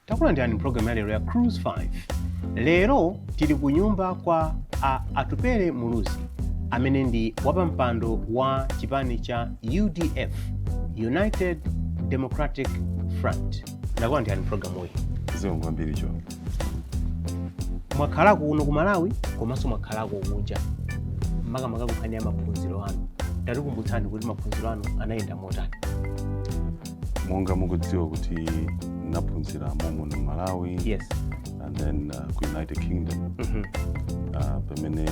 takulandirani mpulogalamu ya lero ya cruise 5 lero tili ku nyumba kwa a atupele muluzi amene ndi wapampando wa chipani cha udf united democratic front takulandirani mpulogalamuyi zikomo kwambiri cho mwakhala kuno ku malawi komanso mwakhalako kunja makamaka kunkhani ya maphunziro anu tatikumbutsani kuti maphunziro anu anayenda motani monga mukudziwa kuti naphunzira mommuno malawi yes and then uh, ku united kingdom Mhm. uh, pamene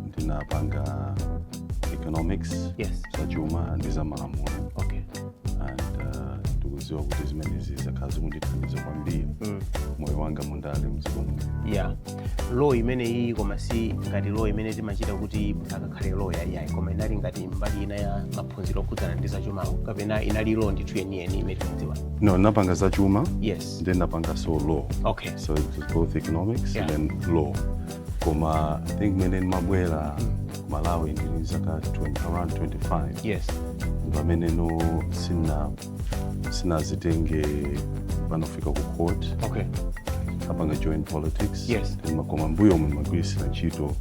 ndinapanga economics yes za chuma ndi za malamulo and uh, ndikuziwa kuti zimenezi zakhala zikundithandiza kwambiri Mm. moyo wanga mundale mdziko muno yeah law imeneyi koma si ngati law imene timachita kuti akakhale loya yayi koma inali ngati mbali ina ya maphunziro okhudzana ndi zachuma kapena inali law ndithu yeniyeni imene timadziwa no napanga zachuma yes then napanga so law okay so it was both economics Yeah. and then law koma i think mene mabwera malawi ndili zaka around 25 yes ndi pamene no sina sinazitenge panofika ku court okay napanga join politics Yes. Then koma mbuyomu magwirisira ntchito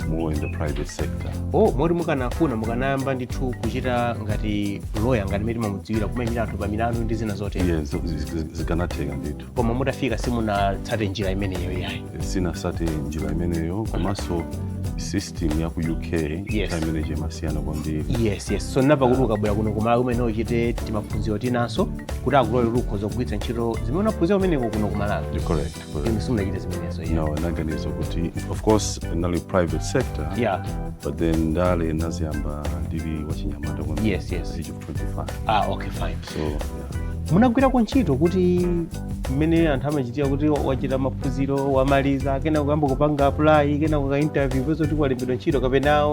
more in the private sector oh moti mukanafuna mukanayamba ndithu kuchita ngati loya ngati mmene timamudziwira kumayimira anthu pa milandu ndi zina zotero yeah, zo- zi- zikanatheka ndithu koma mutafika simunatsate njira imeneyo yayi sinasate njira imeneyo komanso system ya ku uk Yes. time imeneyo chimasiyana kwambiri yes yes so ndinamva kuti ukabwera kuno kumalawi umayenera uchite timaphunziro tinanso kuti akulole kuti ukhoza kugwiritsa ntchito zimene unaphunzira kumeneko kuno kumalawi You're correct, correct. inu simunachite zimenezo yeah. no naganiza kuti of course in the private sector yeah but then ndale naziyamba ndili wachinyamata kwambiri. yes yes age of 25 ah okay fine so yeah. munagwirako ntchito kuti mmene anthu amachitira kuti wachita maphunziro wamaliza kenako kuyamba kupanga apply kenako ku interview kupeza kuti walembedwa ntchito kapena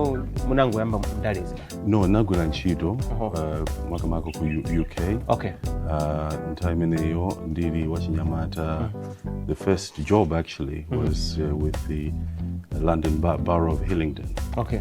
munangoyamba ndalezi no nagwira ntchito Oho. uh, makamaka ku U- uk okay uh, nthawi imeneyo ndili wachinyamata the first job actually was uh, with the london Bar- borough of hillingdon okay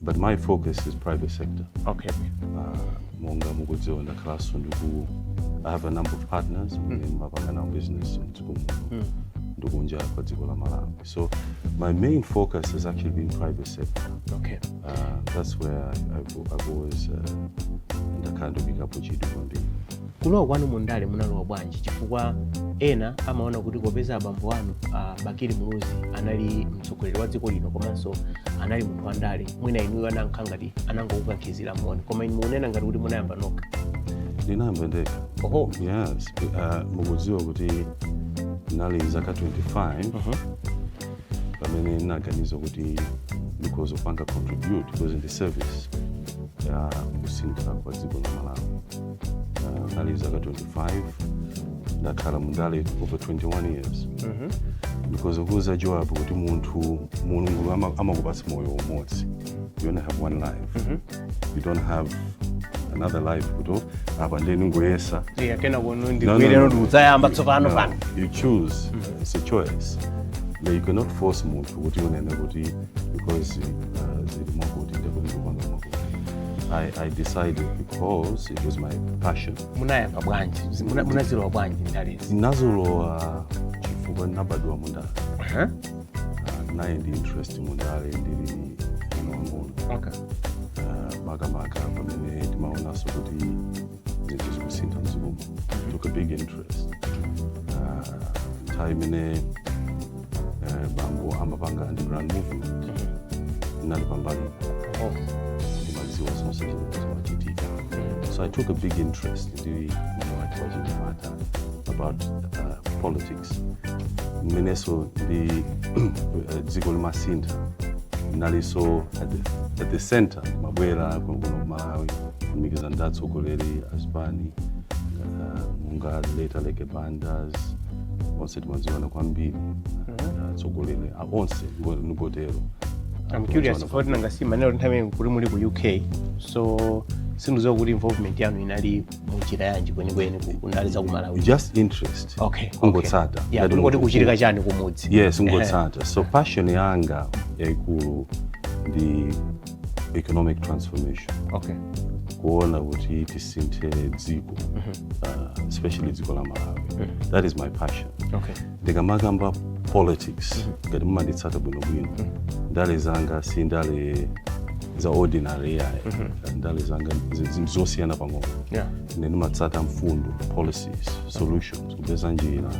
but my focus is private sector okay uh, monga mukudziwa ndakhalanso ndiku i have a number of partners mm. amene mapanga nawo business mdziko muno mm. ndikunja kwa dziko la malawi so my main focus has actually been private sector okay uh, that's where I have always uh, ndakhala ndikuyikapo chidwi kwambiri Kulowa kwanu mu ndale munalowa bwanji? Chifukwa ena amaona kuti popeza abambo anu a Bakili Muluzi anali mtsogoleri wa dziko lino komanso anali munthu wa ndale, mwina inuyo anankha ngati anangokukankhizira momo, koma inu mukunena ngati kuti munayamba nokha. ndinayamba ndekha Oho. yes uh, mukudziwa kuti ndinali zaka 25 Mhm. pamene ndinaganiza kuti ndikhoza kupanga contribute because in the service ya kusintha kwa dziko la malawi uh, nali zaka 25 ndakhala mundale over 21 years because ndikuuza Joab kuti munthu mulungu ama- amakupatsa moyo umodzi you only have one life you don't have another life kuti apa ndeni ngoyesa iyayi kena kuno No, no, ndikwere no. ndikudzayamba tsopano No, pano you choose it's a choice but you cannot force munthu kuti unene kuti because uh, zili mwakuti ndekuti ndikupanga mwakuti I, I decided because it was my passion. munayamba bwanji Muna- munazilowa bwanji ndalezi Ndinazilowa chifukwa ndinabadwa mundale. Aha, Uh, nali ndi interest mundale ndili mwana wang'ono. okay. Uh, makamaka pamene ndimaonanso kuti zinthu zikusintha mdziko muno I took a big interest Ah, nthawi imene eh, bambo amapanga underground movement ndinali pambali Oh. ndimadziwa zonse zimene zimachitika so i took a big interest ndi moyo wanga wachinyamata about uh, politics mmenenso ndi eh, dziko limasintha ndinalinso at the, at the center ndimabwera kuno kumalawi kulumikiza ndi atsogoleri a zipani ah, monga late Aleke Bandas onse timadziwana kwambiri ah, atsogoleri ah, onse ngo- ngotero Ah, I'm curious kudziwa kuti nanga si munanena nthawi imeneyo kuti muli ku UK so sindikudziwa kuti involvement yanu inali munjira yanji kwenikweni ku- ku ndale za ku Malawi just interest okay kungotsata okay. yeah, Ngati kungoti munthu- kuchitika chani kumudzi yes kungotsata so passion yanga yaikulu ndi economic transformation okay kuona kuti tisinthe dziko uh, especially dziko la malawi that is my passion okay ndikamakamba politics ngati mumanditsata bwinobwino ndale zanga si ndale za ordinary yayi ndale zanga zi- zi- zosiyana pang'ono yeah ine ndimatsata mfundo policies solutions kupeza njira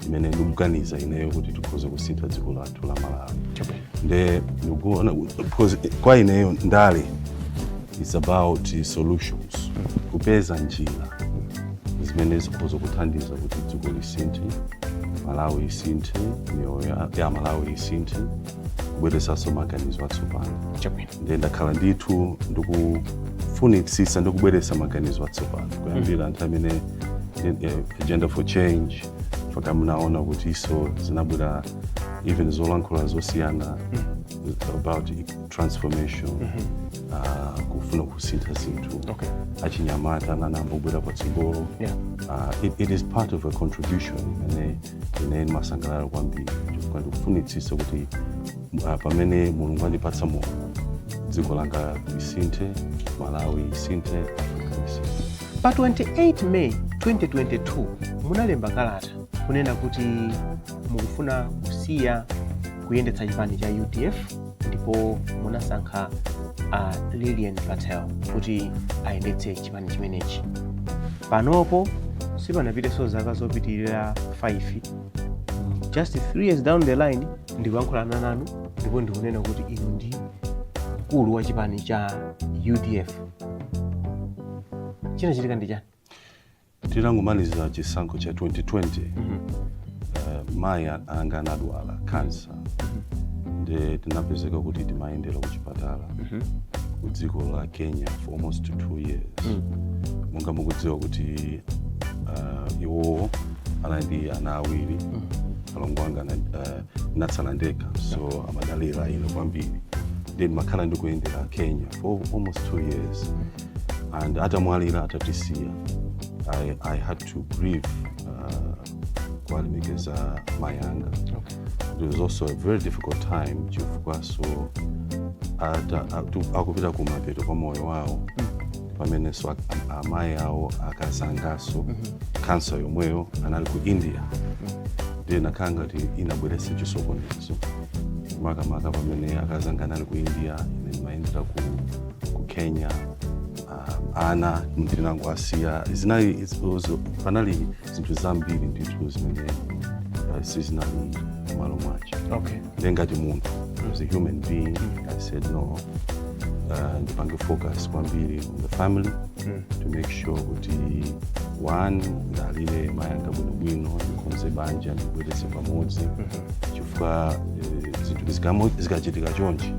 imene ndikuganiza ineyo kuti tikhoza kusintha dziko lathu lathu la malawi nde ndikuona because kwa ineyo ndale is about solutions kupeza njira zimene zikhoza kuthandiza kuti dziko lisinthe malawi isinthe miyoyo ya- ya amalawi isinthe kubweresanso maganizo atsopano chabwino nde ndakhala ndithu ndikufunitsisa ndikubweresa maganizo atsopano kuyambira nthawi imene eh, agenda for change mpaka mnaona kuti iso zinabwera even zolankhula zosiyana about transformation ah, kufuna kusintha zinthu Okay. achinyamata ananambobwera patsogolo Yeah. Ah, it, it is part of a contribution imene ine ndimasangalala kwambiri chifukwa ndikufunitsitsa kuti ah, pamene mulungu andipatsa moyo dziko langa lisinthe malawi isinthe africa isinthe pa 28 may 2022 munalemba kalata kunena kuti mukufuna kusiya kuyendetsa chipani cha udf ndipo munasankha a lilian patel kuti ayendetse chipani chimenechi panopo sipanapiteso zaka zopitirira 5 just 3 years down the line ndikuyankhulana nanu ndipo ndikunena kuti inu ndi mkulu wa chipani cha udf chinachitika ndi chani Titangomaliza chisankho cha 2020 eh, mayi a- anga anadwala kansa nde tinapezeka kuti timayendera ku chipatala ku dziko la kenya for almost two years monga mukudziwa kuti uh, iwowo anali ndi ana awiri alongo anga ana- eh, ndinatsala ndekha so amadalira ine kwambiri nde ndimakhala ndikuyendera kenya for almost two years and atamwalira atatisiya I, i had to grieve uh, kuwalemekeza mai anga Okay. it was also a very difficult time chifukwa so ata- atu- akupita kumapeto kwa moyo wawo pamene so ak- am- amayi awo akazangaso kansa yomweyo anali ku india ndiye inakhala ngati inabweretsa chisokonezo makamaka pamene akazanga anali ku india ine ndimayendera ku ku kenya uh, ana ndinango asiya zinali iz- uzo- panali zinthu zambiri ndithu zimene uh, sizinali m'malo mwake okay nde ngati munthu as a human being i said no uh, ndipange focus kwambiri on the family to make sure kuti one ndiwalire mayanga bwinobwino ndikonze banja ndibweretse pamodzi chifukwa eh, zinthu zikamo- zikachitika chonchi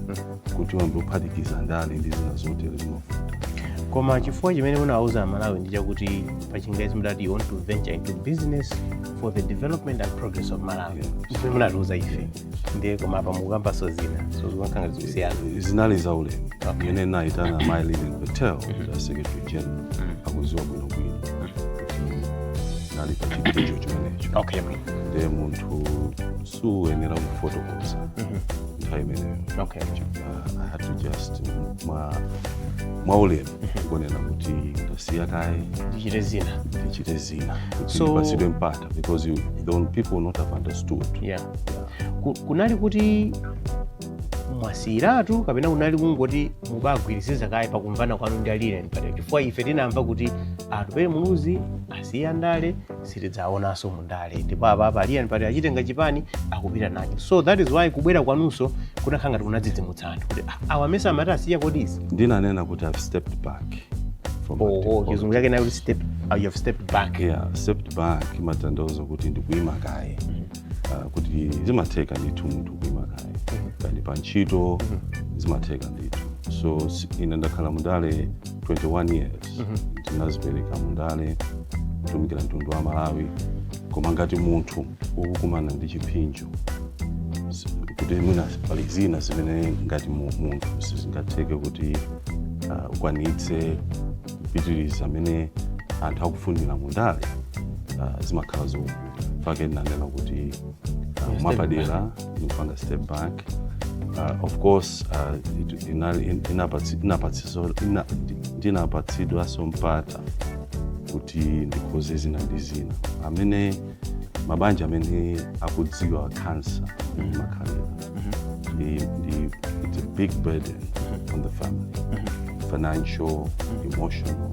kuti uyambe kuphatikiza ndale ndi zina zotero zimavuta koma chifukwa chimene munawauza amalawi ndi chakuti pachingezi mudati you want to venture into business for the development and progress of malawi zimene munatiuza ife ndiye koma apa mukukambanso zina so zikumakhala zikusiyana zinali za ulemu Okay. ine naitana mayi Lilian Patel a secretary general akuziwa bwinobwino kuti nali pa chiphinjo chimenecho okay bwino ndiye munthu suyenera kufotokoza nthawi imeneyo okay I had to just mwa mwaulemu kunena kuti ndasiya kaye ndichite zina ndichite zina kuti So- ndipatsidwe mpata because you know, people would not have understood yeah Ku- kunali kuti mwasiyiratu kapena kunali kungoti mubagwiriziza kaye pakumvana kwanu ndi a Lilian Patel chifukwa ife tinamva kuti atupele muluzi asiya ndale sitidzaonanso mu ndale ndipo apa apa a Lilian Patel achitenga chipani akupita nacho so that is why kubwera kwanunso kunakhala ngati kunadzidzimutsa anthu kuti "Ah, awa mesa amati asiya kodi izi ndinanena kuti i've stepped back from active oho politics. chizungu chake nayo kuti step uh, you have stepped back yeah stepped back imatanthauza kuti ndikuima kaye Ah, kuti zimatheka ndithu munthu kuima kaye kaya ndi pa ntchito zimatheka ndithu so si- ine ndakhala mundale 21 years Mhm. ndinazipereka mundale kutumikira mtundu wa malawi koma ngati munthu ukukumana ndi chiphinjo si- kuti mwina pali zina zimene ngati mu- munthu sizingatheke kuti ah, ukwanitse kupitiriza amene anthu akufunira mundale ah, zimakhala zovuta fake ndinanena kuti ah, mwapadera ndikupanga step back uh, of course uh, it- inali- in- inapatsi- inapatsiso- ina- ndinapatsidwaso mpata kuti ndikonze zina ndi zina amene mabanja amene akudziwa kansa ndi makhalira ndi ndi it's a big burden on the family financial emotional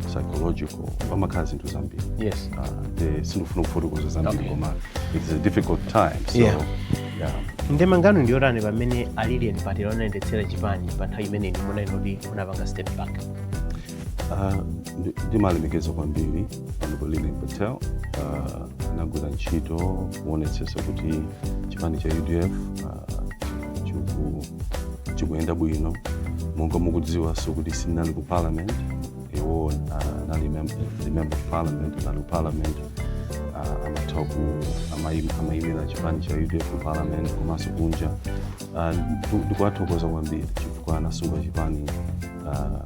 psychological pamakhala zinthu zambiri yes Ah, nde sindifuna kufotokoza zambiri Okay. koma it's a difficult time so Yeah. yeah. ndemanga yanu ndiyotani pamene a Lilian Patel anayendetsera chipani pa nthawi imene inu munali noti munapanga step back Ah, ndi- ndimalemekeza kwambiri honorable Lilian Patel ah, anagwira ntchito kuonetsetsa kuti chipani cha udf ah, chiku- chikuyenda bwino monga mukudziwanso kuti sinali ku parliament iwo anali member of parliament anali parliament uh, amatha ku amayi- amayimira chipani cha udf ku parliament komanso kunja Ah, ndu- ndikuwathokoza kwambiri chifukwa anasunga chipani ah,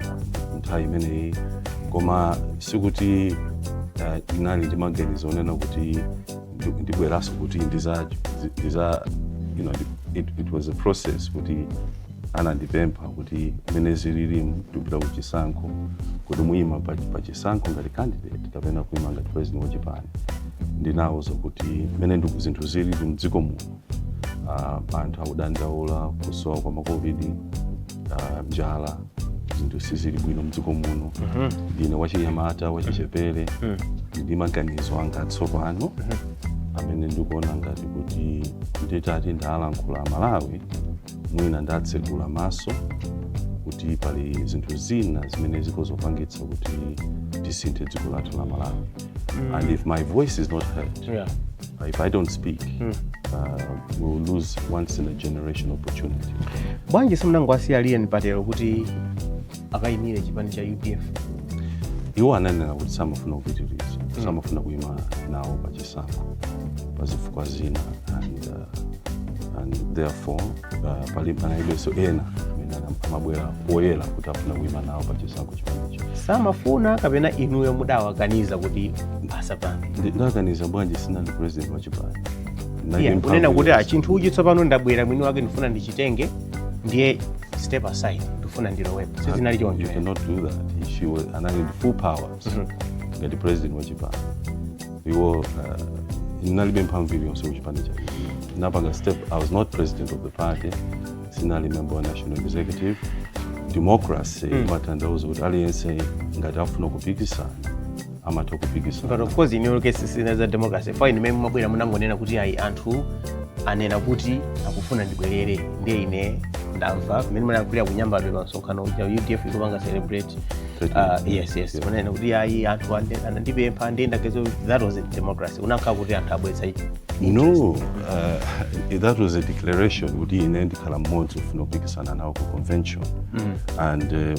nthawi imeneyi koma sikuti ah, ndinali ndi maganizo onena kuti ndi- ndibweranso kuti ndiza ndiza you know, it, it was a process kuti anandipempha kuti mmene zililimu ndikupita ku chisankho kuti muyima pa, pa chisankho ngati candidate kapena kuyima ngati president wa chipani ndinawuza kuti mmene ndiku zinthu zilili mdziko muno uh, anthu akudandaula kusowa kwa macovid uh, njala zinthu sizili bwino mdziko muno ndine wachinyamata wachichepere ndi maganizo anga atsopano amene ndikuona ngati kuti nditati ndalankhula amalawi mwina ndatsegula maso kuti pali zinthu zina zimene zikhoza kupangitsa kuti tisinthe dziko lathu la malawi mm. and if my voice is not heard yeah. Uh, if i don't speak mm. uh, we'll lose once in a generation opportunity bwanji simunangowasiya lilian patel kuti akayimire chipani cha udf iwo ananena kuti samafuna kupitiriza mm. samafuna kuyima nawo pa chisankho pa zifukwa zina and, uh, and therefore uh, pali panalibenso ena amene amabwera poyera kuti afuna kuyima nawo pa chisankho chimenecho samafuna kapena inuyo mudawakaniza kuti asapange ndawakaniza bwanji sinali president wa chipani kunena kuti chinthuchi tsopano ndabwera mwini wake ndifuna ndichitenge ndiye step aside ndifuna ndilowepo sizinali choncho You cannot do that. She was anali ndi full powers Mhm. ngati president wa chipani. Iwo uh, ndinalibe mphamvu iliyonse kuchipani cha ndinapanga step. I was not president of the party. Sinali member wa national executive. Democracy Mm. imatanthauza kuti aliyense ngati afuna kupikisana amatha kupikisana but of course in your case sina za democracy fine mmene mumabwera munangonena kuti ayi anthu anena kuti akufuna ndibwerere ndiye ine ndamva mmene munayankhulira ku nyambadwe pa msonkhano uja udf ikupanga celebrate Ah, yes yes munanena kuti ayi anthu ande- anandipempha ndiye ndagezo that was a democracy kunakhala kuti anthu abweretsa ichi no uh, that was a declaration kuti ine ndikhala mmodzi wofuna kupikisana nawo ku convention and uh,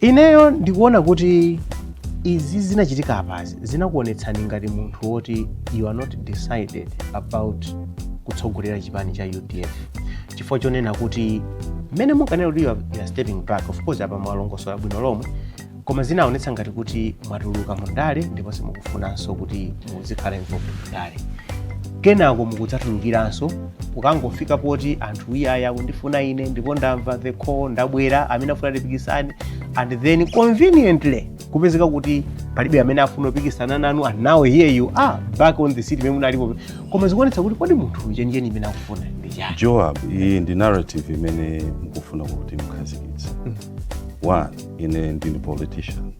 Ineyo ndikuona kuti izi zinachitika apazi zinakuonetsani ngati munthu woti you are not decided about kutsogolera chipani cha udf chifukwa chonena kuti mmene munkanena kuti you are- you are stepping back of course apa mwalongosola bwino lomwe koma zinaonetsa ngati kuti mwatuluka mu ndale ndipo simukufunanso kuti muzikhala involved mu ndale kenako mukudzatulukiranso kukangofika poti anthu iyayi akundifuna ine ndipo ndamva the call ndabwera amene afuna tipikisane and then conveniently kupezeka kuti palibe amene afuna kupikisana nanu and now here you are back on the seat imene munalipo koma zikuonetsa kuti kodi munthu chenicheni chimene akufuna ndi chani joab iyi ndi narrative imene mukufuna kuti mukhazikitse one ine ndine politician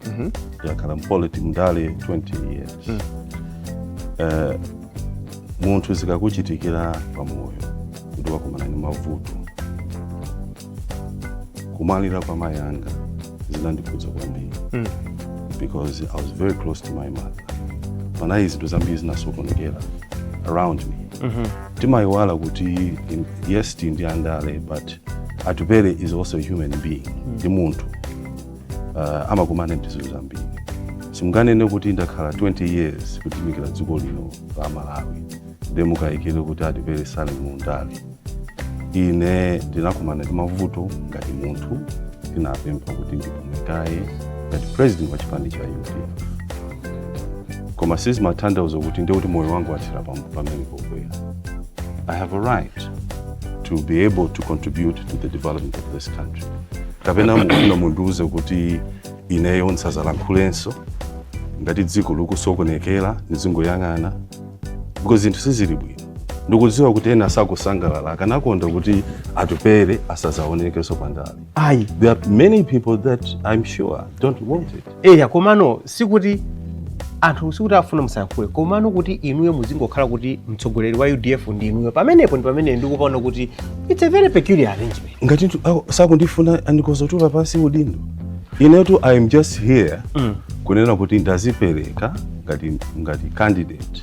ndakhala mpoliti mndale 20 years mm. eh, munthu zikakuchitikira pamoyo kuti wakumana ndi mavuto kumwalira kwa mayi anga zinandikhudza kwambiri mm. because i was very close to my mother panali zinthu zambiri zinasokonekera around me mm -hmm. timayiwala kuti yes tindi andale but atupele is also a human being mm. ndi mm. munthu uh, amakumana ndi zinthu zambiri simunganene kuti ndakhala 20 years kutumikira dziko lino la malawi nde mukayikire kuti atupele sali mundale ine ndinakumana ndi mavuto ngati munthu ndinapempha kuti ndipume kaye ngati president wa chipani cha udf koma sizimatanthauza kuti ndiye kuti moyo wanga wathera pam- pamene pogwera i have a right to be able to contribute to the development of this country kapena mukufuna mundiuze kuti ineyo ndisazalankhulenso ngati dziko likusokonekera ndizingoyang'ana because zinthu sizili bwino ndikudziwa kuti ena sakusangalala akanakonda kuti atupele asazaonekenso pandale ayi there are many people that i'm sure don't want it eya komano sikuti anthu sikuti afuna musayankhule komano kuti inuyo muzingokhala kuti mtsogoleri wa udf ndi inuyo pamenepo ndi pamene ndikupaona kuti it's a very peculiar arrangement ngati ntu- awo sakundifuna ndi akozotula pansi udindo inetu i am just here Mm. kunena kuti ndazipereka ngati ngati candidate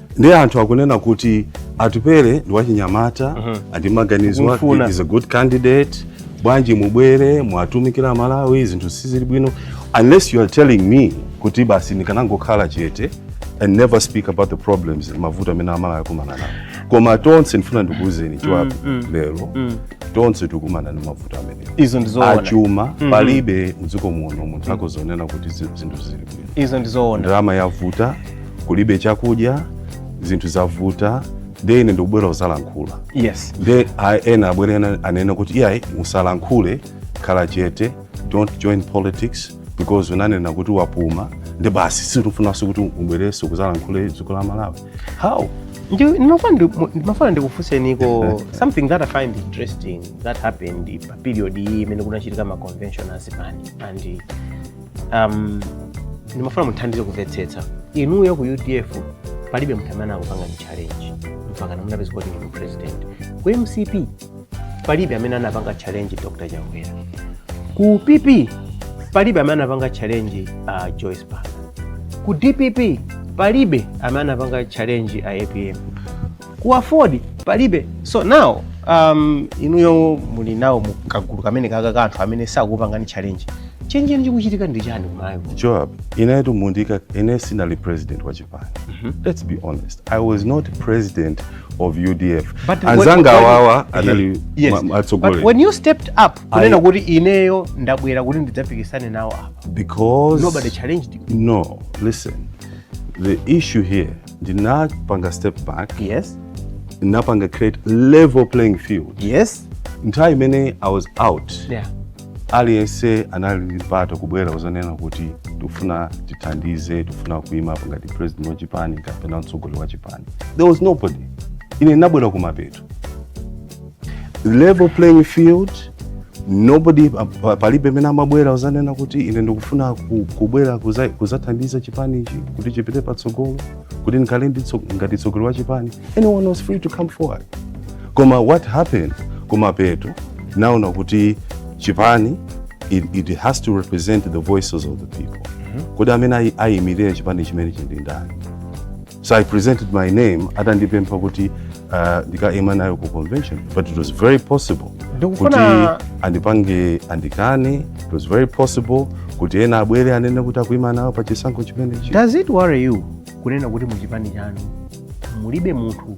ndiye anthu akunena kuti atupele ndi wachinyamata uh -huh. ali ndi maganizo is a good candidate bwanji mubwere muwatumikire amalawi zinthu sizili bwino unless you are telling me kuti basi ndikanangokhala chete and never speak about the problems mavuto amene amalawi akumana nawo koma tonse ndifuna ndikuwuzeni joab mm, mm, lero mm. tonse tikumana ndi mavuto amene izo ndizoona achuma mm -hmm. palibe mdziko muno munthu akozonena kuti zinthu zili bwino izo ndizoona ndalama yavuta kulibe chakudya zinthu zavuta ndiye ine ndikubwera kuzalankhula yes nde ena abwere ena anene kuti iyayi musalankhule khala chete don't join politics because unanena kuti wapuma ndi basi sitifunanso kuti ubwerenso kuzalankhulira dziko la malawi how ndimafuna ndikufunseniko something that i find interesting that happened pa period iyi imene kunachitika ma convention azipani and um, ndimafuna muthandize kumvetsetsa inuyo ku udf palibe munthu amene anakupangani challenge mpaka munapezeka kuti ndinu president ku mcp palibe amene anapanga challenge dr chakwera ku pp palibe amene anapanga challenge uh, joyce banda ku dpp palibe amene anapanga challenge a apm ku aford palibe so now um, inuyo muli nawo mu kagulu kamene kaka ka anthu amene sakupangani challenge chenicheni chikuchitika ndi chani kumayo joab inetu mundika ine sinali president wa chipani let's be honest i was not president of udf But when- anzanga when- awawa anali Yes. ma- But atsogoleri when you stepped up kunena I- kuti ineyo ndabwera kuti ndidzapikisane nawo apa because nobody challenged you no listen the issue here ndinapanga step back yes ndinapanga create level playing field yes nthawi imene i was out yeah aliyense anali ndi mpata kubwera kuzanena kuti tikufuna tithandize tikufuna kuima ngati president wa chipani kapena mtsogoleri wa chipani there was nobody ine ndinabwera kumapeto level playing field nobody pa- palibe amene amabwera kuzanena kuti ine ndikufuna ku- kubwera kuza- kuzathandiza chipani ichi kuti chipite patsogolo kuti ndikhale ndi tso- ngati mtsogoleri wa chipani anyone was free to come forward koma what happened kumapeto naona kuti chipani it, it has to represent the voices of the people kodi amene ayi- ayimirire chipani chimenechi ndi ndani so i presented my name atandipempha kuti uh, ndikaime nawo ku convention but it was very possible kuti andipange andikane it was very possible kuti ena abwere anene kuti akuima nawo pa chisankho chimenechi does it worry you kunena kuti muchipani chanu mulibe munthu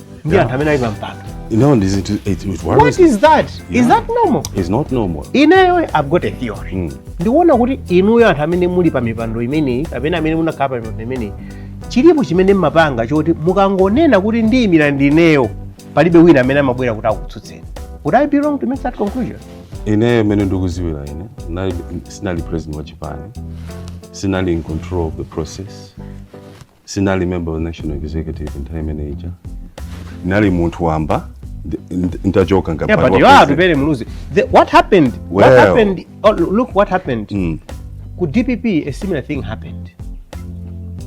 ndi anthu amene ali pa mpando No, this it, it, it what worries me. is that is Yeah. that normal It's not normal. ineyo i've got a theory Mm. ndikuona kuti inuyo anthu amene muli pa mipando imeneyi kapena amene munakhala pa mipando imeneyi chilipo chimene mmapanga choti mukangonena kuti ndiyimira ndineyo palibe wina amene amabwera kuti akutsutseni would i be wrong to make that conclusion Ine mene ndikuziwira ine. Nali sinali president wa chipani. Sinali in control of the process. sinali member wa national executive nthawi imene ija ndinali munthu wamba ndi- ndi- nitachoka Yeah, ngapali but wa you are president. Atupele Muluzi. The, what happened? What Well. happened? Oh, look what happened. Mm. Ku DPP a similar thing happened.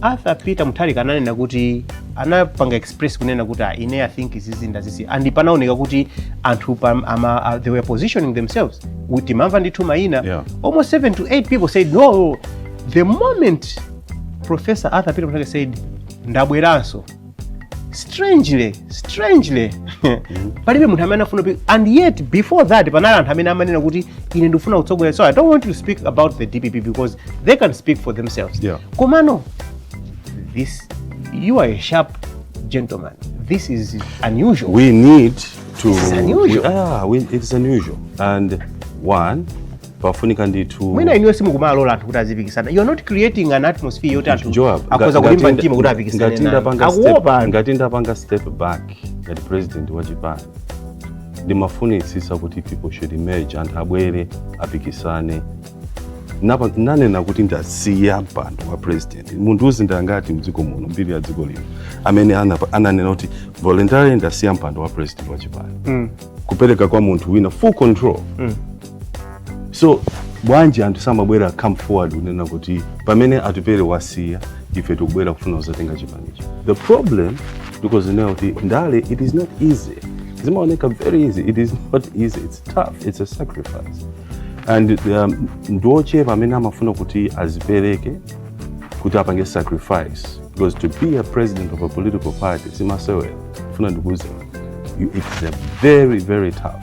Arthur Peter Mutharika ananena kuti anapanga express kunena kuti "Ah, ine I think izizi ndazisiya and panaoneka kuti anthu pam- ama, ah, they were positioning themselves timamva ndithu maina Yeah. almost 7 to 8 people said no the moment Professor Arthur Peter Mutharika said ndabweranso strangely strangely palibe munthu amene afuna kupi- and yet before that panali anthu amene amanena kuti ine ndikufuna kutsogolera so i don't want you to speak about the dpp because they can speak for themselves Yeah. komano this you are a sharp gentleman this is unusual we need to This is unusual. We, ah, we, it's unusual and one pafunika ndithu mwina inuyo simukumalola anthu kuti azipikisana you are not creating an atmosphere yoti anthu Joab, nga- akhoza kulimba ngatinda- mtima kuti apikisane ngatinda naye. panga step- akuopa anthu ngati ndapanga step back ngati president wa chipani ndimafunitsitsa kuti people should emerge anthu abwere apikisane Napa- nanena kuti ndasiya mpando wa president mundiuze ndi angati mdziko muno mbiri ya dziko lino amene anapa- ananena kuti voluntarily ndasiya mpando wa president wa chipani Mm. kupereka kwa munthu wina full control Mm. so bwanji anthu samabwera come forward kunena kuti pamene atupele wasiya ife tikubwera kufuna kuzatenga chipanicho the problem ndikozinena kuti ndale it is not easy zimaoneka very easy it is not easy it's tough it's a sacrifice and um, ndiochepa amene amafuna kuti azipereke kuti apange sacrifice because to be a president of a political party simasewera ndifuna ndikuuze you- it's a very very tough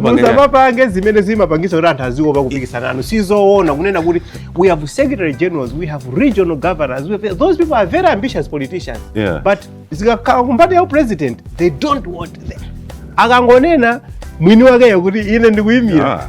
musapapange zimene zimapangisa kuti anthu aziopa kupikisana nanu sizoona kunena kuti we have secretary generals we have regional governors we have, those people are very ambitious politicians yeah. but zikakhala kumbali ya upresident they don't want them akangonena mwini wakeyo kuti ine ndikuyimira yeah.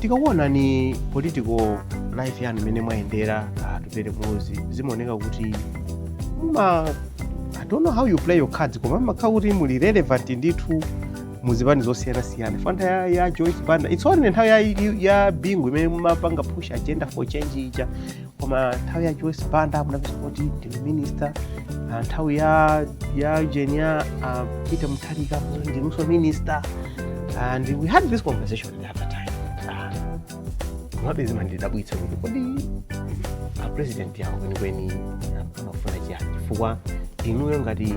tikakuonani political life yanu imene mwayendera ah, atupele muluzi zimaoneka kuti muma i don't know how you play your cards koma mmakhala kuti muli relevant ndithu muzipani zosiyanasiyana nthawi ya, ya joyce banda its only nthawi ya, ya bingu imene mumapanga push agenda for change ija koma nthawi ya joyce banda munapezeka kuti ndinu minista ah, nthawi ya ya ujeni ya ah, peter mutharika munali ndinunso minista and we had this conversation the other time Ah, komabe zimandidabwitsa kuti kodi apresident awo kwenikweni amafuna chiyani chifukwa inuyo ngati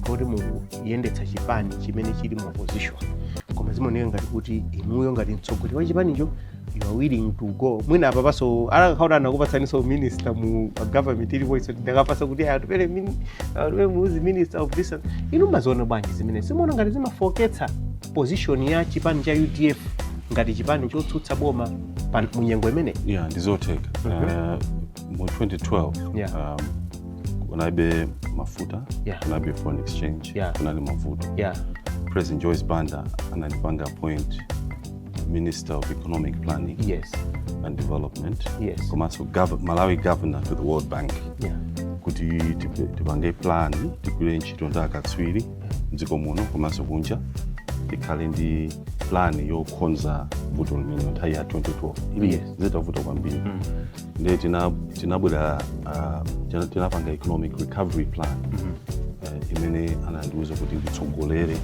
kuti mukuyendetsa chipani chimene chili mu opposition koma zimaoneka ngati kuti inuyo ngati mtsogoleri wa chipanicho you are willing to go mwina apa paso alakakhaona anakupasaninso minister mu a government ilipo iso ndakapasa kuti aya atupele mini- atupele muluzi minister of this and- inu mumaziona bwanji zimenezi simuona ngati zimafooketsa position ya chipani cha udf ngati chipani chotsutsa boma pa munyengo imene yeah ndizotheka Eh, mu 2012 Yeah. um, kunalibe mafuta Yeah. kunalibe foreign exchange Yeah. kunali mavuto yeah president joyce banda anandipanga appoint minister of economic planning yes and development yes komanso gov- malawi governor to the world bank yeah kuti tipe- tipange plan tigwire ntchito ndi akatswiri mdziko muno komanso kunja tikhale ndi plan yokonza vuto limenelo nthawi ya 2012 zili Yes. zitavuta kwambiri ndiye tina- tinabwera ah, tina- tinapanga economic recovery plan eh, imene anandiuza kuti nditsogolere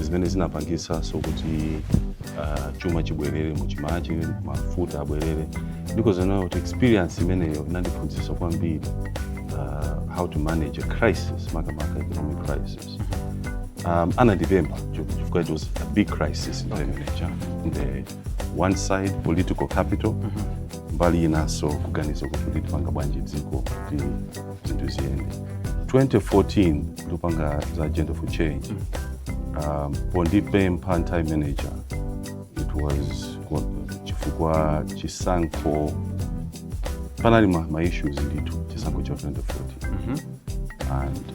zimene zinapangisanso kuti uh, chuma chibwerere muchimake mafuta abwerere ndikozinena kuti experience imeneyo inandiphunzitsa kwambiri uh, how to manage a crisis makamaka economic crisis um, anandipempha chifukwa it was a big crisis in the, in the one side political capital mm -hmm. mbali inanso kuganiza kuti titipanga bwanji dziko kuti zinthu ziyende 2014 ndikupanga za agenda for change mm -hmm. um, pondipempha nthawi manager it was chifukwa chisankho panali ma, ma issues ndithu chisankho cha 2014 mm -hmm. and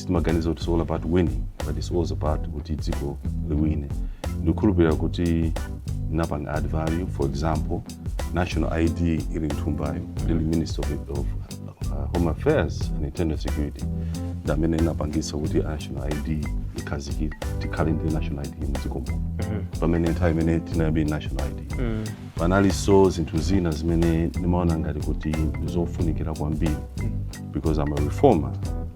sitimaganiza kuti it's all about winning but it's also about kuti dziko liwine ndikukhulupirira kuti napanga add value for example national id ili mthumbayo ndili minister of, of uh, home affairs and internal security ndi amene ndinapangisa kuti national id ikhazikike tikhale ndi national id mdziko muno pamene nthawi imene tinayamba national id panalinso zinthu zina zimene ndimaona ngati kuti ndizofunikira kwambiri because I'm a reformer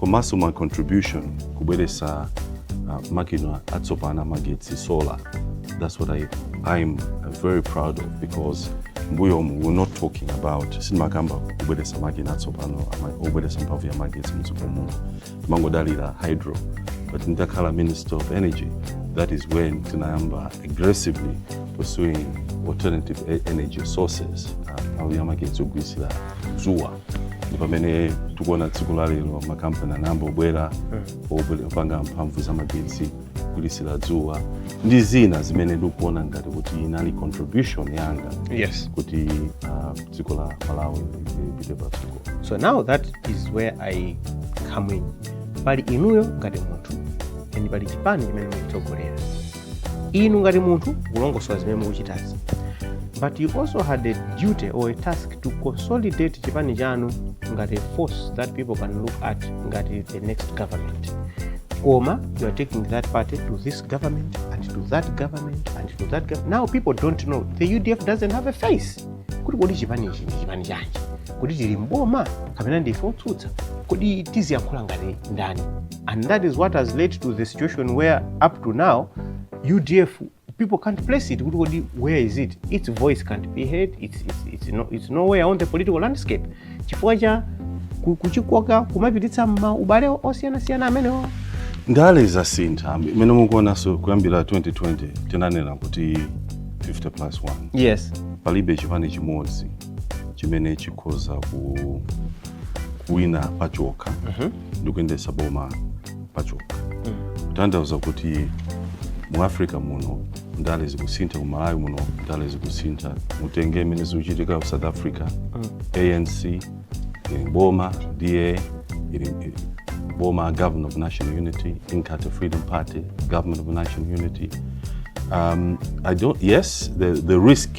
komanso my contribution kubweretsa uh, makina atsopano amagetsi solar that's what I, I'm very proud of because mbuyomu we're not talking about sitimakamba timakamba kubweretsa makina atsopano ama- obweretsa mphamvu ya magetsi mdziko muno timangodalira hydro but nditakhala minister of energy that is when tinayamba aggressively pursuing alternative e- energy sources uh, mphamvu ya magetsi ogwiritsira dzuwa ndi pamene tikuona tsiku la lero makampani anayamba kubwera obwera opanga mphamvu za magetsi kugwiritsira dzuwa ndi zina zimene ndikuona ngati kuti inali contribution yanga yes kuti ah, dziko la malawi lipite patsogolo so now that is where i come in pali inuyo ngati munthu and pali chipani chimene mukutsogolera inu ngati munthu kulongosola zimene mukuchitazi but you also had a duty or a task to consolidate chipani chanu ngati a force that people can look at ngati the next government koma you are taking that party to this government and to that government and to that government now people don't know the udf doesn't have a face kuti kodi chipani ichi ndi chipani chanji kodi tili mboma kapena ndife otsutsa kodi tiziyankhula ngati ndani And that is what has led to the situation where up to now UDF people can't place it. Where is it? Its voice can't be heard. It's, it's, it's, no, it's nowhere on the political landscape. Chifukwa cha kuchikoka kumapititsa m'ma ubale osiyanasiyana amenewo ndale zasintha mmene mukuonanso kuyambira 2020 tinanena kuti 50 plus 1 yes palibe chipani chimodzi chimene chikhoza ku kuwina pachokha mm -hmm. ndi kuyendetsa boma pachoka kutanthauza kuti mu africa muno ndale zikusintha ku malawi muno ndale zikusintha mutenge imene zikuchitika ku south africa anc ili boma da ili ili boma government of national unity inkatha freedom party government of national unity um, i don't yes the, the risk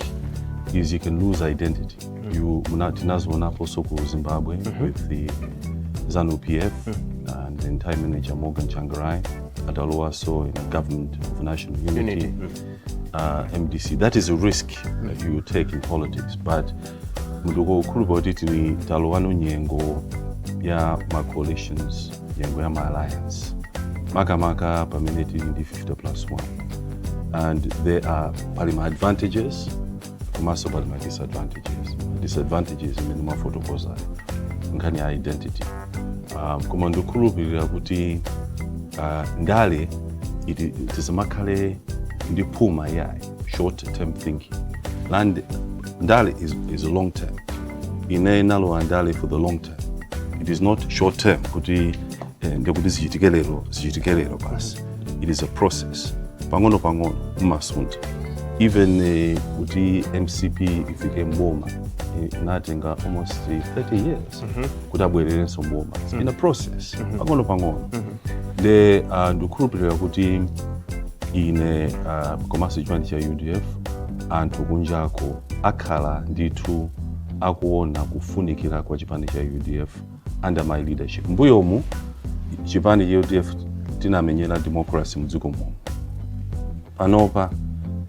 is you can lose identity you muna- tinazionaposo ku zimbabwe with the zanu pf and the then Prime Minister Morgan Tsvangirai atalowaso in a government of national unity, Unity, Uh, mdc that is a risk that you take in politics but mutu waukulu kuti tili talowano nyengo ya ma coalitions nyengo ya ma alliance makamaka pamene tili ndi 50 plus 1 and there are pali ma advantages komanso pali ma disadvantages disadvantages imene mwafotokozayo nkhani ya identity um, koma ndikukhulupirira kuti uh, ndale iti- tisamakhale ndi phuma yayi short term thinking land ndale is, is long term ine nalowa ndale for the long term it is not short term kuti Eh, ndiye kuti zichitike lero zichitike lero basi it is a process pang'ono pang'ono mmasuntha even eh, kuti mcp ifike mboma eh, inatenga almost 30 years kuti abwererenso mboma It's been a process pang'ono pang'ono nde uh, ndikukhulupirira kuti ine uh, komanso chipani cha udf anthu kunjako akhala ndithu akuona kufunikira kwa chipani cha udf under my leadership mbuyomu chipani cha udf tinamenyera democracy mdziko muno panopa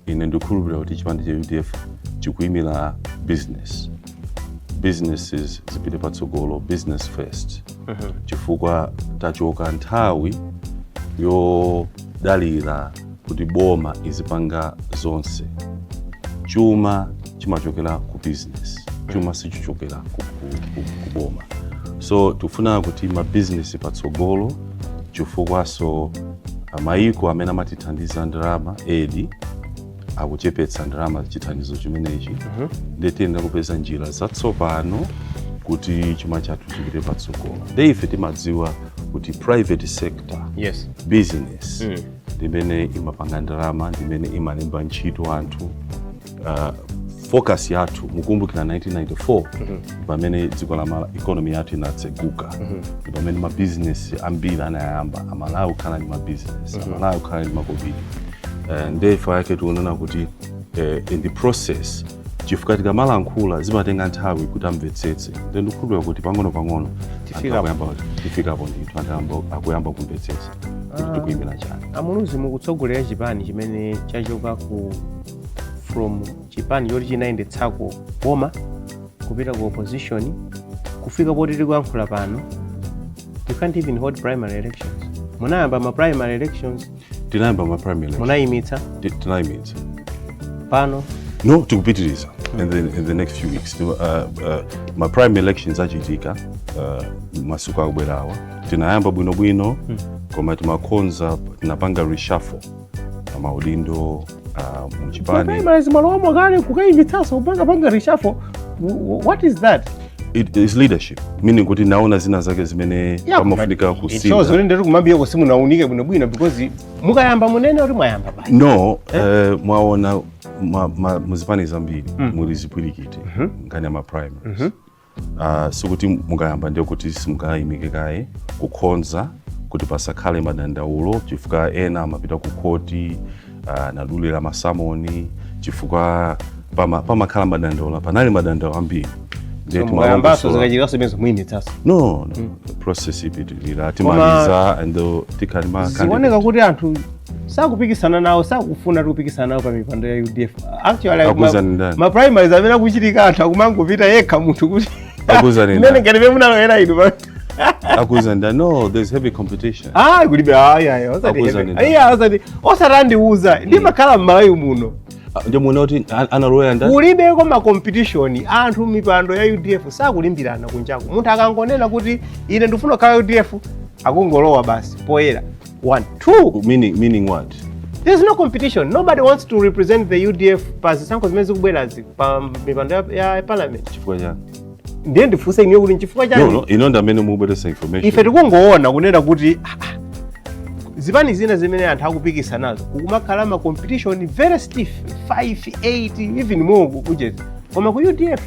ine ndikukhulupirira kuti chipani cha udf chikuyimira business businesses zipite patsogolo business first chifukwa tachoka nthawi yodalira kuti boma izipanga zonse chuma chimachokera ku business chuma sichichokera ku, ku, ku, ku boma so tikufuna kuti mabizinesi patsogolo chifukwaso mayiko amene amatithandiza ndalama aid akuchepetsa ndalama chithandizo chimenechi nde tiyenera kupeza njira zatsopano kuti chuma chathu chipite patsogolo nde ife timadziwa kuti private sector yes business Mm. ndimene imapanga ndalama ndimene imalemba ntchito anthu uh, focus yathu mukumbukira 1994 pamene dziko la Mala- economy yathu inatseguka ndi pamene mabizinesi ambiri anayamba amalawi kukhala ndi mabizinesi amalawi kukhala ndi makobiri Eh, nde chifukwa chake tikunena kuti eh, in the process chifukwa tikamalankhula zimatenga nthawi kuti amvetsetse nde ndikukhulupirira kuti pang'ono pang'ono Tifikapo. tifikapo ndithu anthu ayamba- akuyamba kumvetsetsa kuti tikuimira chani amuluzi mukutsogolera chipani chimene chachoka ku from chipani choti chinayendetsako boma kupita ku opposition kufika poti tikuyankhula pano you can't even hold primary elections munayamba ma primary elections tinayamba ma primary elections munayimitsa Ti- tinayimitsa pano no tikupitiriza in the, in the next few weeks uh, uh, ma primary elections achitika uh, masiku akubwerawa tinayamba bwinobwino koma timakhonza tinapanga reshuffle a maudindo uh, mu chipani primaries mwalowamo kale kukayimitsanso kukapanga reshuffle what is that it is leadership meaning kuti naona zina zake zimene pamafunika kusintha ndiye kumayambiriroko simunaunike bwino bwino because mukayamba munene kuti mwayamba basi no eh? Uh, mwaona muzipani zambiri mm. muli zipwirikiti mm -hmm. nkhani ya ma primaries mm -hmm. Ah, sikuti mukayamba ndiye kuti simungayimike kaye kukhonza kuti pasakhale madandaulo chifukwa ena amapita ku khoti ah, nadulira masamoni chifukwa pama- pamakhala madandaulo panali madandaulo ambiri Ndiye So, mukayambaso timalongosola- zikachitika zimenezo muyimitsaso no no process ipitirira timaliza and uh, tikhala ma- zikuoneka kuti anthu sakupikisana nawo sakufuna kupikisana nawo pa mipando ya udf actually Akuuzani ma- ndani? ma primaries amene akuchitika anthu akumangopita yekha munthu kuti Akuuzani ndani? mmene ngati mmene munalowera inu pa- akuuzani nda no there's heavy competition ah kulibe ayi ayi osati Akuuzani heavy. ndani? Iya, osati osati wandiuza ndimakhala m'malawi muno Ah, ndiye muona kuti an- analowa nda kulibeko ma competition anthu mipando ya udf sakulimbirana kunjako munthu akangonena kuti ine ndifuna kukhala udf akungolowa basi poyera one two meaning meaning what there's no competition nobody wants to represent the udf pa zisankho zimene zikubwerazi pa mipando ya- ya parliament chifukwa chani ndiye ndifunse inuyo kuti nchifukwa no chani no inu ndi amene mukubweretsa information ife tikungoona kunena kuti ah, ah, zipani zina zimene anthu akupikisa nazo kukumakhala ma competition very stiff 5 8 even more kucheza koma ku udf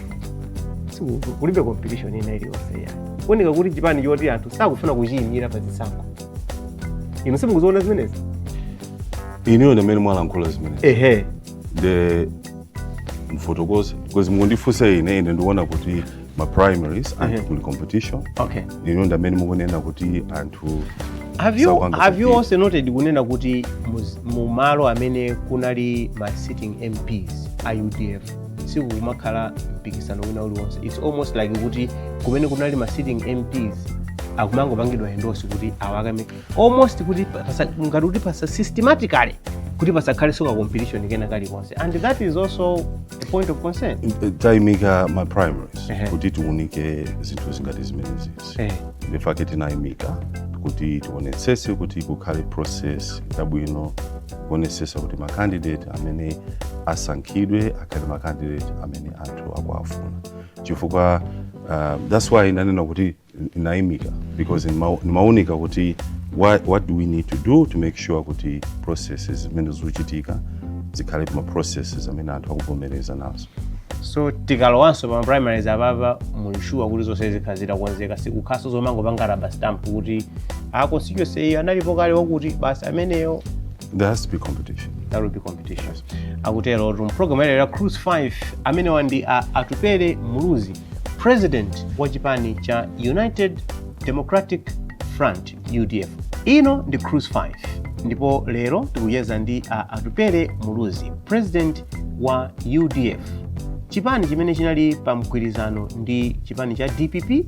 siku- kulibe competition ina iliyonse zikuoneka kuti chipani choti anthu sakufuna kuchiyimira pa zisankho inu simukuziona zimenezi inuyo ndi amene mwalankhula zimenezi ehe the mfotokozi because mwandifunsa ine ine ndikuona kuti ma primaries Mhm. anthu kuli competition okay inuyo ndi amene mukunena kuti anthu have you, have you kuti- also noted kunena kuti muz- mu malo amene kunali ma sitting mps a udf sikukumakhala mpikisano wina uliwonse its almost like kuti kumene kunali ma sitting mps akumangopangidwa endorse kuti awakane almost kuti pasa- ngati kuti pasa systematically kuti pasakhalenso ka competition kena kalikonse and that is also a point of concern tinaimika ma primaries Ehe. kuti tiunike zinthu zingati zimenezi eh, n'chifukwa chake tinaimika kuti tionetsese kuti kukhale process yabwino kuonesesa kuti makandidate amene asankhidwe akhale makandidate amene anthu akuwafuna chifukwa uh, that's why ndanena kuti ndinaimika because timaunika kuti what, what do we need to do to make sure kuti processes zimene zikuchitika zikhale ma processes amene anthu akuvomereza nazo so tikalowanso pa ma primaries apapa muli shuwa kuti zonse zikhala zitakonzeka sikukhalanso zomangopanga rubber stamp kuti a constituency iyi analipo kale wakuti basi ameneyo there has to be competition there will be competition akuterotu mu program ya cruise 5 amenewa ndi a atupele muluzi president wa chipani cha united democratic front udf ino ndi cruise 5 ndipo lero tikucheza ndi a atupele muluzi president wa udf chipani chimene chinali pa mgwirizano ndi chipani cha dpp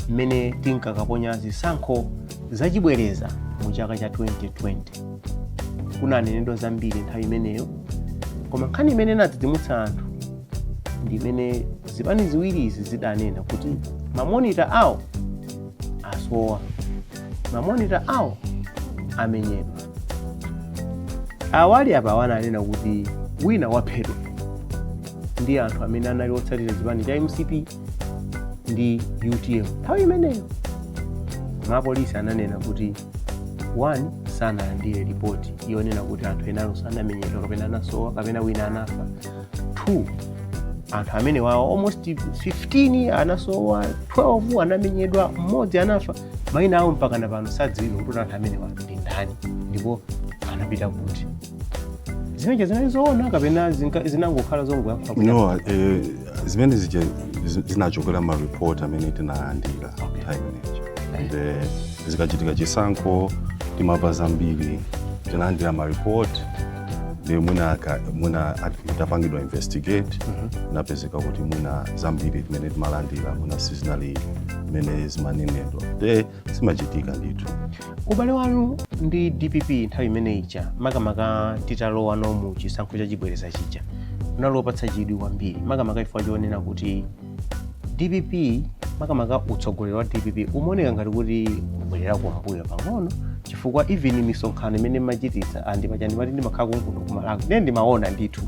mmene tinkakaponya zisankho zachibwereza mu chaka cha 2020 kunanenedwa zambiri nthawi imeneyo koma nkhani imene inadzidzimutsa anthu ndi imene zipani ziwiri izi zidanena kuti mamonita awo asowa mamonita awo amenyedwa a Wadi Apawa ananena kuti wina waphedwa ndi anthu amene anali otsatira chipani cha mcp ndi utm nthawi imeneyo mapolisi ananena kuti one sanalandire ripoti yonena kuti anthu ena ake anamenyedwa kapena anasowa kapena wina anafa 2 anthu amenewawo almost 15 anasowa 12 anamenyedwa mmodzi anafa maina awo mpakana pano sadziwika kuti anthu amenewa ndi ndani ndipo anapita kuti zimenezo zinali zoona kapena zinka- zinangokhala zongoyankhula kuti- no eh, zimene zija zi- zinachokera m'ma report amene tinalandira Okay. nthawi imeneyo and eh, zikachitika chisankho timamva zambiri tinalandira ma report ndi mwina aka- mwina at- itapangidwa investigate napezeka kuti mwina zambiri timene timalandira mwina sizinali mmene zimanenedwa nde zimachitika ndithu ubale wanu ndi dpp nthawi imene ija makamaka titalowa no mu chisankho cha chibwereza chija unali wopatsa chidwi kwambiri makamaka chifukwa chonena kuti dpp makamaka utsogoleri wa dpp umaoneka ngati kuti ubwerera kumbuyo pang'ono chifukwa even misonkhano imene mmachititsa andi paja ndimati ndimakhala kunkuno kumalawi ndiye ndimaona ndithu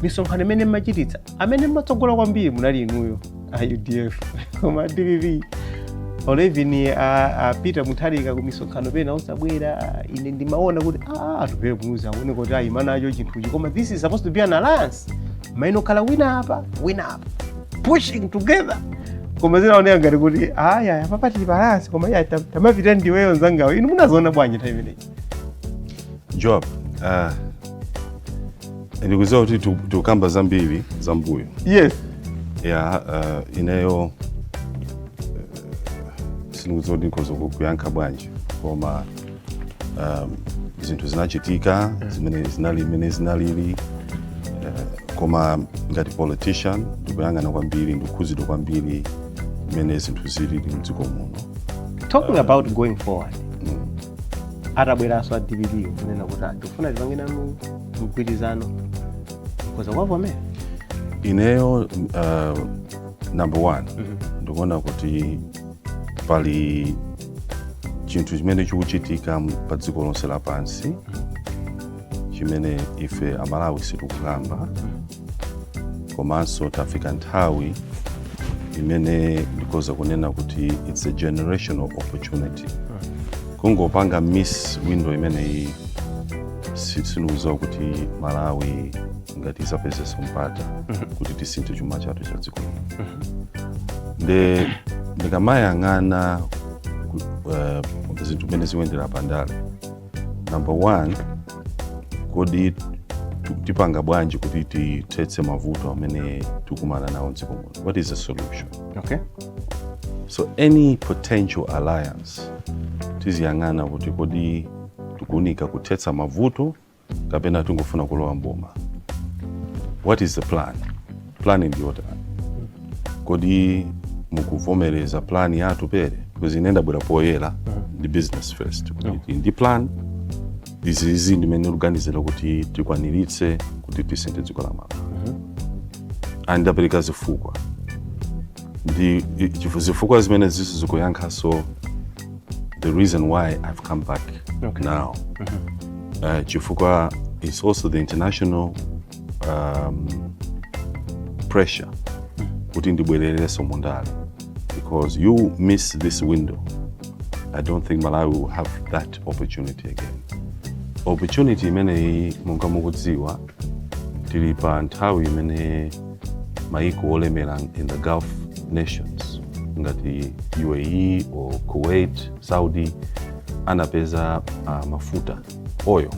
misonkhano imene mmachititsa amene mmatsogola kwambiri munali inuyo a udf koma dpp olo even a, a peter mutharika ku misonkhano pena osabwera ine ndimaona kuti "Ah, atupele muluzi akuoneka kuti ayima nacho chinthuchi koma this is supposed to be an alliance mayenera kukhala wina apa wina apa pushing together koma zinaoneka ngati kuti aya apapa patibalansa koma iya tam- tamapita ndiweyo nzangawo inu munaziona bwanji nthawi imeneyi job ah, ndikudziwa kuti tu- tukamba zambiri za mbuyo yes ya uh, ineyo uh, sindikudziwa kuti ndikhoza kuyankha bwanji koma um, zinthu zinachitika zimene zinali mmene zinalili uh, koma ngati politician ndikuyang'ana kwambiri ndikukhuzidwa kwambiri mmene zinthu zilili mdziko muno talking about going forward atabweranso a dpp kunena kuti "Ah, tikufuna tipange nanu mgwirizano mukhoza kuwavomera ineyo uh, number one ndikuona kuti pali chinthu chimene chikuchitika pa dziko lonse lapansi chimene ife amalawi sitikukamba komanso tafika nthawi imene ndikoza kunena kuti it's a generational opportunity kungopanga miss window imeneyi sindikudziwa kuti malawi ngati izapezeso mpata kuti tisinthe chuma chathu cha dziko lino nde ndikamayang'ana ku- eh, zinthu mmene zikuyendera pandale number one kodi tu- tipanga bwanji kuti tithetse mavuto amene tikumana nawo mdziko muno what is the solution okay so any potential alliance tiziyang'ana kuti kodi tikuunika kuthetsa mavuto kapena tingofuna kulowa mboma what is the plan plan ndiyotani kodi mukuvomereza plan ya atupele because ine ndabwera poyera ndi business first kuti tili ndi plan izizi ndimene tikuganizira kuti tikwaniritse kuti tisinthe dziko la malawi and ndapereka zifukwa ndi i- chifu- zifukwa zimene izizo zikuyankhaso the reason why i've come back Okay. now uh, chifukwa is also the international um, pressure kuti ndibwerereso mundale because you miss this window i don't think malawi will have that opportunity again opportunity imeneyi monga mukudziwa tili pa nthawi imene maiko olemera in the gulf nations ngati uae or kuwait saudi anapeza uh, mafuta oil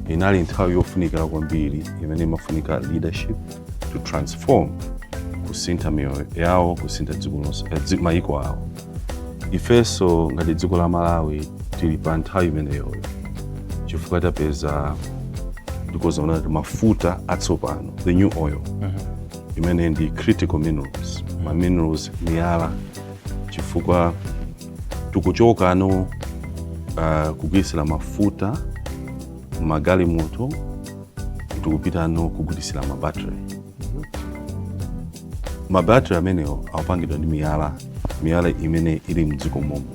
inali nthawi yofunikira kwambiri imene imafunika leadership to transform kusintha miyoyo yawo kusintha dziko lonse eh, dzi- maiko awo ifenso ngati dziko la malawi tili pa nthawi imeneyoyo chifukwa tapeza ndikozanena kuti mafuta atsopano the new oil imene ndi critical minerals ma minerals miyala chifukwa tikuchokano uh, kugwirisira mafuta magalimoto tikupitano kugwirisira mabattery mabatri amenewo akupangidwa ndi miyala miyala imene ili mdziko mwathu muno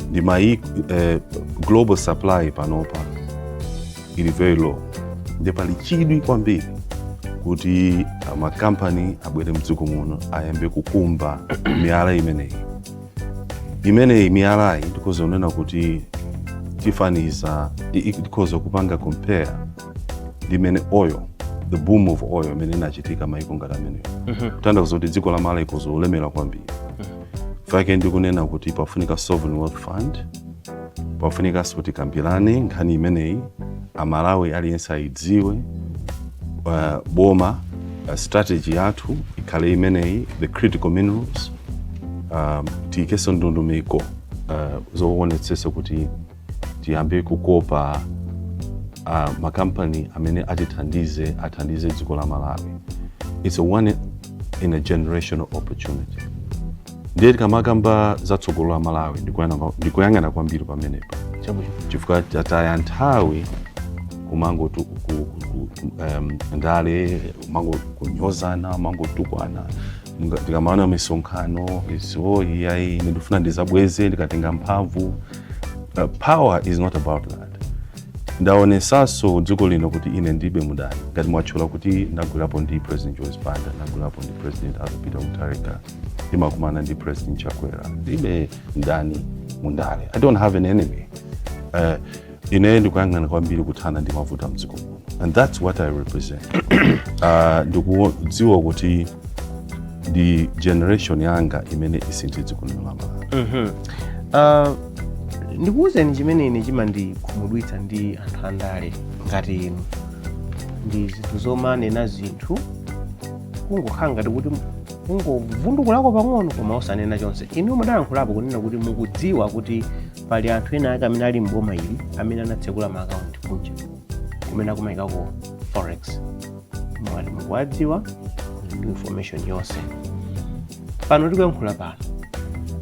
ndiye eh, global supply panopa ili very low ndiye pali chidwi kwambiri kuti ah, makampani abwere mdziko muno ayambe kukumba miyala imeneyi imeneyi miyalayi ndikoza kunena kuti tifanize i- i- ndikoza kupanga compare ndi mmene oil the boom of oil imene inachitika maiko ngati ameneyo Mhm. kutanthauza kuti dziko la malawi likoza kulemera kwambiri nchifukwa chake ndikunena kuti pafunika sovereign wealth fund pafunikanso tikambirane nkhani imeneyi amalawi aliyense ayidziwe uh, boma uh, strategy yathu ikhale imeneyi the critical minerals um, tiyikenso ndondomeko uh, zowonetsetsa kuti tiyambe kukopa uh, makampani amene atithandize athandize dziko la malawi its a one in a generational opportunity ndiye tikamakamba za tsogolo la malawi ndikuyang'ana- ndikuyang'ana kwambiri pamenepa chabwino chifukwa tataya nthawi kumangoti um, ndale kumangonyozana kumangotukwana ndikamaona misonkhano izo iyayi ine ndifuna ndizabweze ndikatenga mphamvu uh, power is not about that ndaonesaso dziko lino kuti ine ndilibe mudani ngati mwatchula kuti ndagwirapo ndi president joyce banda ndagwirapo ndi president arthur peter mutharika ndimakumana ndi president chakwera ndilibe mdani mundale i don't have an enemy uh, ine ndikuyang'ana kwambiri kuthana ndi mavuto a mdziko muno and that's what i represent uh, ndikudziwa kuti ndi generation yanga imene isinthe dziko lino la malawi mm -hmm. uh, ndikuwuzeni chimene ine chimandikhumudwitsa ndi anthu andale ngati inu ndi zinthu zomanena zinthu kungokhala ngati kuti kungovundukulako pang'ono koma osanena chonse inu mudalankhulapo kunena kuti mukudziwa kuti pali anthu ena ake amene ali mboma ili amene anatsekula maakaunti kunja kumene akumaikako forex mwati mukuwadziwa ndi information yonse pano tikuyankhula pano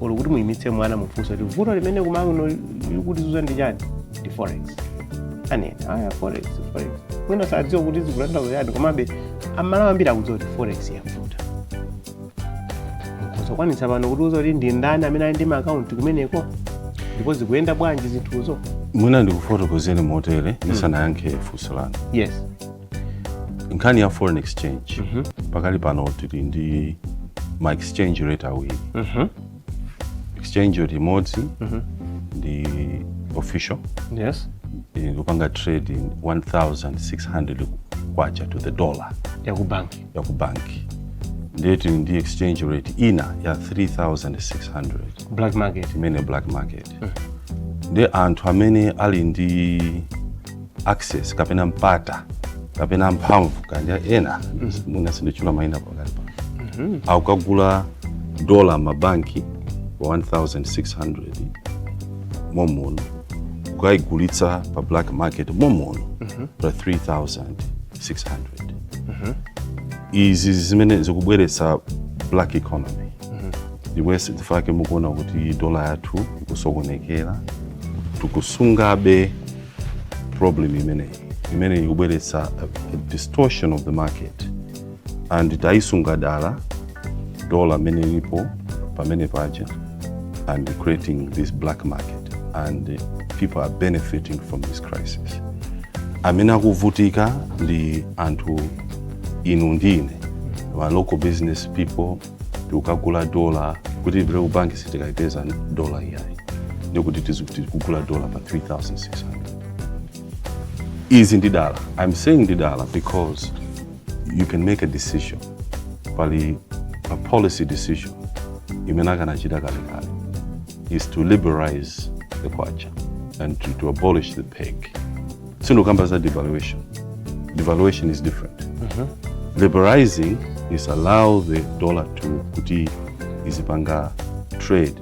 olo kuti muyimitse mwana mumufunse kuti vuto limene kwanu kuno likutizunza ndi chani ndi forex anena aya forex forex mwina sadziwa kuti zikutanthauza chani komabe amalawi ambiri akudziwa kuti forex yavuta mungazikwanitse pano kutiuza kuti ndi ndani amene ali ndi maakaunti kumeneko ndipo zikuyenda bwanji zinthuzo mwina ndikufotokozeni motere ndisanayankhe funso lanu yes nkhani ya foreign exchange pakali pano tili ndi ma exchange rate awiri Mhm. exchange rate imodzi ndi official yes ikupanga trading 1600 kwacha to the dollar yakubanki ya ku banki ndiye tili ndi exchange rate ina ya 3600 black market imene black market ndi anthu amene ali ndi access kapena mpata kapena mphamvu kaya ena mwina sinditchula maina pakati pano akukagula dola mabanki pa 1600 momuno kukayigulitsa pa black market momuno pa 3000 600 izi zimene zikubweretsa black economy ndiyeso chifukwa chake mukuona kuti dola yathu ikusokonekera tikusungabe problem imeneyi imene ikubweretsa a, a distortion of the market and tayisunga dala dola mmene ilipo pamene paja and creating this black market and people are benefiting from this crisis amene akuvutika ndi anthu inu ndi ine ma local business people tikukagula dola kuti tipite ku banki sitikaipeza dola iyayi ndiye kuti tikugula dola pa 3600 izi ndi dala i'm saying ndi dala because you can make a decision pali a policy decision imene akanachita kalekale is to liberalize the kwacha and to, to abolish the peg sindikukamba za devaluation devaluation is different mm -hmm. liberalizing is allow the dollar to kuti izipanga trade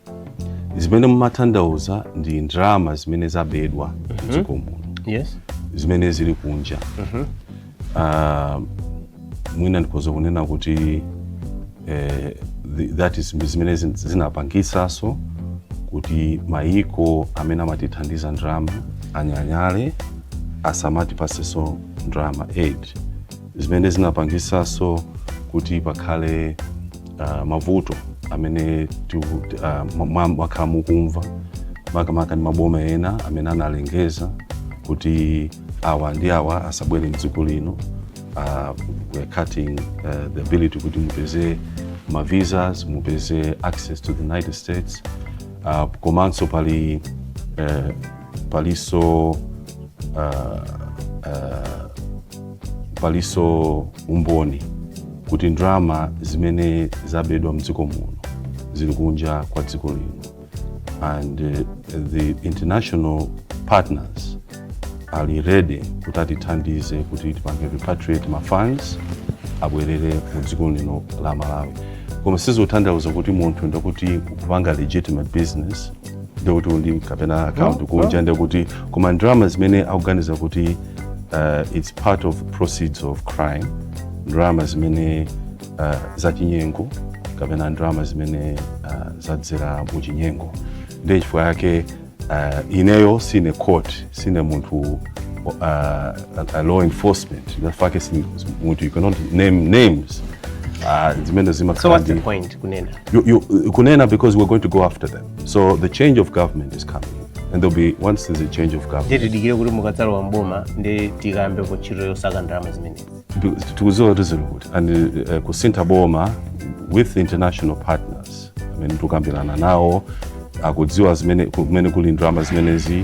zimene mumathandauza ndi ndalama zimene zabedwa mm -hmm. dziko muno yes. zimene zili kunja mm -hmm. uh, mwina ndikhoza kunena kuti eh, that is zimene zinapangisaso kuti mayiko amene amatithandiza ndalama anyanyale asamatipaseso ndalama 8 zimene zinapangitsanso kuti pakhale uh, mavuto amene mwakhala uh, mukumva makamaka ndi maboma ena amene analengeza kuti awa ndi awa asabwere mdziko lino uh, we're cutting uh, the ability kuti mupeze ma visas mupeze access to the united states uh, komanso pali uh, palinso uh, uh, palinso umboni kuti ndalama zimene zabedwa mdziko muno zili kunja kwa dziko lino and uh, the international partners ali ready kuti atithandize kuti tipange repatriate ma funds abwerere mu dziko lino la malawi koma sizikutanthauza kuti munthu ndakuti kupanga legitimate business ndikuti uli ndi kapena account No, kunja ndikuti koma ndalama zimene akuganiza kuti uh, its part of proceeds of crime ndalama zimene uh, zachinyengo kapena ndalama zimene uh, zadzera muchinyengo ndiye chifukwa yake uh, ineyo sindine court sindine munthu uh, a, a law enforcement ndafake munthu you cannot name names uh, zimene So what's the zimakhala point kunena? You, you, kunena because we're going to go after them. So the change of government is coming. And there'll be, once there's a change of government. Ndiye tidikire kuti mukadzalowa m'boma, ndi Tikayambe ntchito yosaka ndalama zimenezi. Tikudziwa kuti zili kuti, and uh, eh, kusinta boma with international partners. amene tikukambirana nawo, akudziwa zimene, kumene kuli ndalama zimenezi.